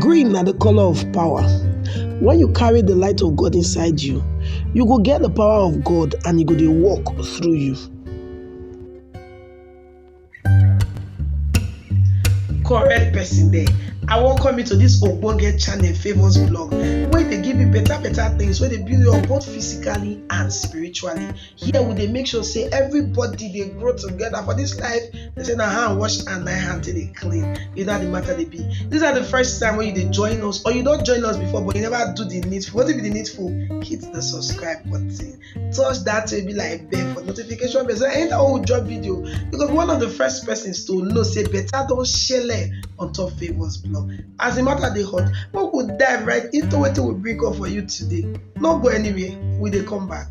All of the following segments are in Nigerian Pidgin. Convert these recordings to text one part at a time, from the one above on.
Green na the color of power. When you carry the light of God inside you, you go get the power of God and e go dey work through you. correct person there i welcome you to this ogbonge channel famous blog wey dey give you better better things wey dey build you up both physically and spiritually here we dey make sure say everybody dey grow together for this life they say na hand wash and na hand take dey clean you know how the matter dey be this na the first time wey you dey join us or you don join us before but you never do the needful wetin be the needful hit the subscribe button touch that way be like bell for notification bell so anytime wey we drop video you go be one of the first persons to know say better don shele on top favours blog as the matter dey hot make we dive right into wetin we bring up for you today no go anywhere we dey come back.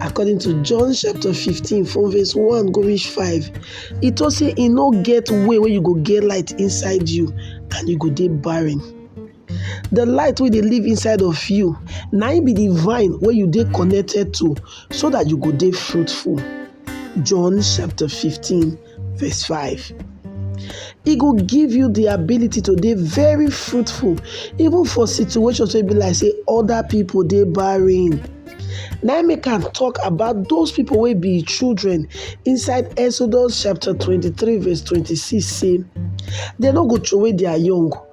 according to john chapter 15 from verse 1 go reach 5 e tok say e no get way wey you go get light inside you and you go dey barren the light wey dey live inside of you na im be the vine wey you dey connected to so that you go dey fruitful john chapter 15 Verse 5. E go give you the ability to be very fruitful even for situations wey be like say other people they barren. Now we can talk about those people will be children inside Exodus chapter 23 verse 26 say they no go away their young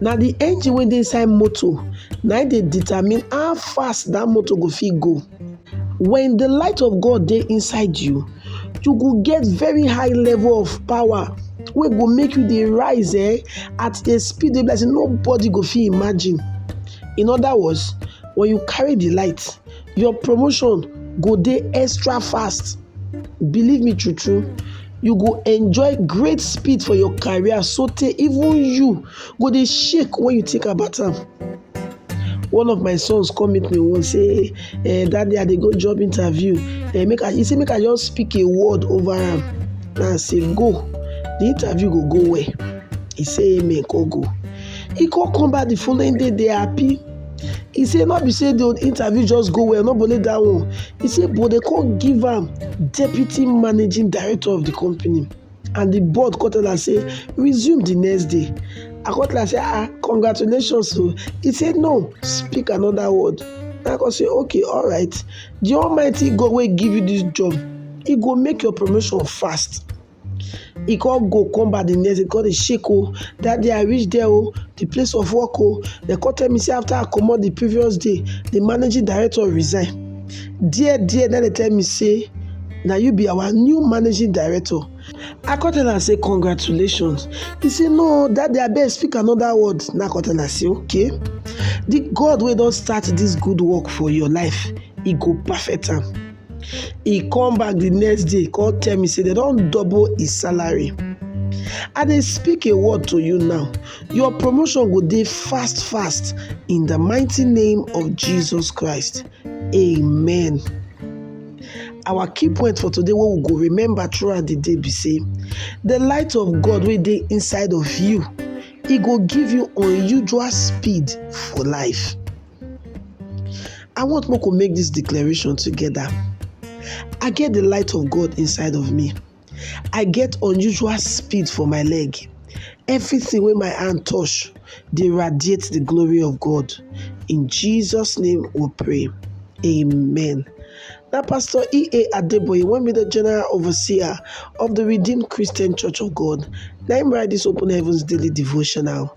Na de engine wey dey inside motor na im dey determine how fast dat motor go fit go. When de light of God dey inside you, you go get very high level of power wey go make you dey rise um at a speed wey be like sey nobody go fit imagine. In other words, when you carry de light, your promotion go dey extra fast. believe me true true you go enjoy great speed for your career so tey even you go dey shake when you think about am one of my sons come meet me once say eh daddy i dey go job interview eh make i he say make i just speak a word over am na i say go the interview go go well he say amen come go he come come back the following day dey happy He say no be say the interview just go well, no be only that one. He say but they come give am deputy managing director of the company and the board come tell am say resume the next day. I come tell am say ah congratulations o. He say no speak another word. I come say okay alright the almighty God wey give you this job he go make your promotion fast. He come go come back the next day, he come dey shake oh, that day I reach there oh, the place of work oh, they come tell me say after I comot the previous day, the managing director resign. There there na dey tell me say na you be our new managing director. I come tell am say congratulations. He say no that day abeg speak another word. Na I come tell am say okay, the God wey don start this good work for your life, he go perfect am. he come back the next day come tell me say they don double his salary i dey speak a word to you now your promotion go dey fast fast in the mighty name of jesus christ amen our key point for today wey we go remember throughout the day be say the light of god wey dey inside of you e go give you unusual speed for life I want make we make dis declaration together. I get the light of God inside of me. I get unusual speed for my leg. Everything wey my hand touch dey radiate the glory of God. In Jesus' name we pray. Amen. Na Pastor E.A. Adeboye, one be the General Overseer of the Redeemed Christian Church of God, na him write this Open Heavens Daily Devotional.